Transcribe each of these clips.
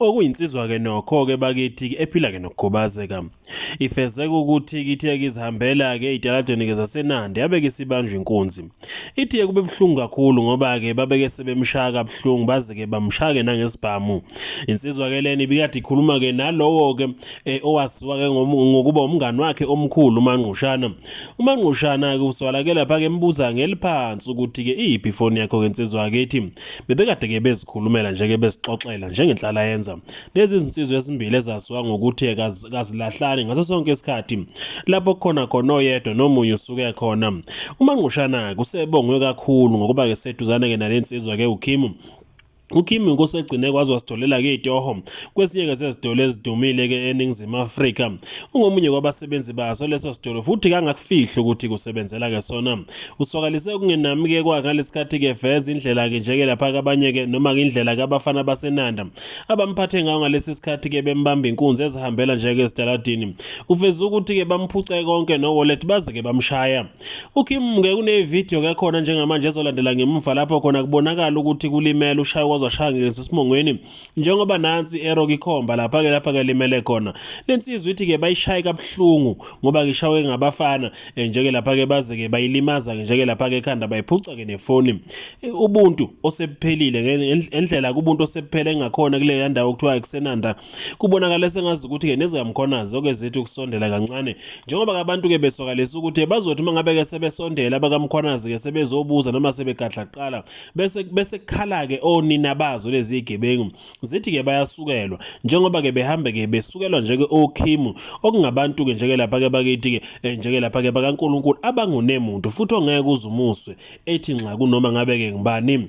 okuyinsizwa-ke nokho-ke bakithi-ke ephila-ke nokukhubazeka ifezeka ukuthi kithe-ke izihambela-ke ey'taladweni-ke zasenandi yabe-ke isibanjwa inkunzi ithi-ke kube buhlungu kakhulu ngoba-ke babeke sebemshaya kabuhlungu baze-ke bamshaya-ke nangesibhamu insizwa-ke lena ibikade ikhuluma-ke nalowo-ke um owaziwa-ke ngokuba umngani wakhe omkhulu umangqushana UMangqushana-ke usolakele phake embuza ngeliphansi ukuthi-ke iyiphi ifoni yakho-ke nsizwa akithi. Bebekade-ke bezikhulumela nje-ke bezixoxela njengenhlala yenza. Lezi zinsizwa ezimbili ezaziwa ngokuthi kazilahlani ngaso sonke isikhathi. Lapho kukhona khona oyedwa nomunye usuke khona. UMangqushana-ke usebongwe kakhulu ngokuba-ke seduzane-ke nale nsizwa-ke uKhimu UKim inkosi egcine kwazi wasitholela-ke itoho kwesinye-ke sezitolo ezidumile-ke eningizimu afrika ungomunye kwabasebenzi baso leso sitolo futhi kangakufihli ukuthi kusebenzela-ke sona uswakalise ukungenami-ke kwakhe ngalesi khathi-ke veza indlela-ke njeke lapha kabanye-ke noma-ke indlela kabafana basenanda abamphathe ngayo ngalesi sikhathi-ke bembamba inkunzi ezihambela njeke ezitaladini uveze ukuthi-ke bamphuce konke nowolet baze-ke bamshaya UKim ngeke unevidiyo ke khona njengamanje ezolandela ngemuva lapho khona kubonakala ukuthi kulimele ushaya kwaze washaya ngeso esimongweni njengoba nansi ero kikhomba lapha ke lapha ke limele khona lensizwa ithi ke bayishaye kabuhlungu ngoba ngishawe ngabafana eh, njeke lapha ke baze ke bayilimaza njeke lapha ke ekhanda bayiphuca ke nefoni eh, ubuntu osephelile ngendlela kubuntu osephele engakhona kule yandawo kuthiwa ekusenanda Kubonakala sengazi ukuthi-ke nezikaMkhonazi zoke zithi ukusondela kancane njengoba-ke abantu-ke beswakalisa ukuthi bazothi uma ngabe-ke sebesondela abakaMkhonazi-ke sebezobuza noma sebegadla kuqala bese bese kukhala-ke onina bazo lezi zigebengu zithi-ke bayasukelwa njengoba-ke behambe-ke besukelwa njeke okhimu okungabantu-ke njeke lapha-ke bakithi-ke eh, njeke lapha-ke bakaNkulunkulu abangunemuntu futhi ongeke uze umuswe ethi nxa kunoma ngabe-ke ngubani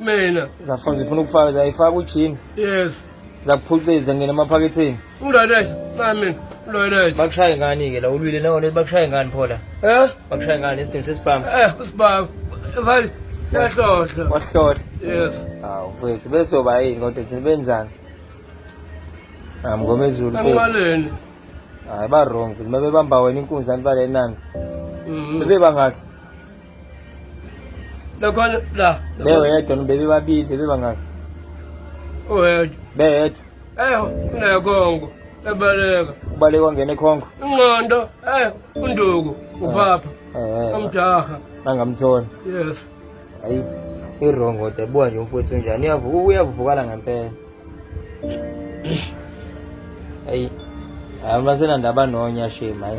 mina zafuna zifuna ukufaka zayifaka ujini yes zakuphuciza ngena emaphaketheni undaletha nami undaletha bakushaye ngani ke la ulwile nawo lezi bakushaye ngani phola eh bakushaye ngani isidingo sesibhamu eh usibhamu mfana yahlohla wahlohla yes hawu mfethu besoba yini kodwa thina benzani amngomezulu ambaleni hayi ba wrong futhi mabebamba wena inkunzi anibale nani mhm. bebebangakhi Lokho la. Bewe yedwa nibebe babili bebe bangaki? Oyedwa. Be yedwa. Eh unekhongo. Ebaleka. Ubaleka ngene khongo. Inqondo eh unduku ubaba. Eh. Amjaha. Nangamthola. Yes. Ayi i-wrong kodwa buka nje umfowethu njani uyavuka uyavukala ngempela ayi abantu basenandaba nonya shame hayi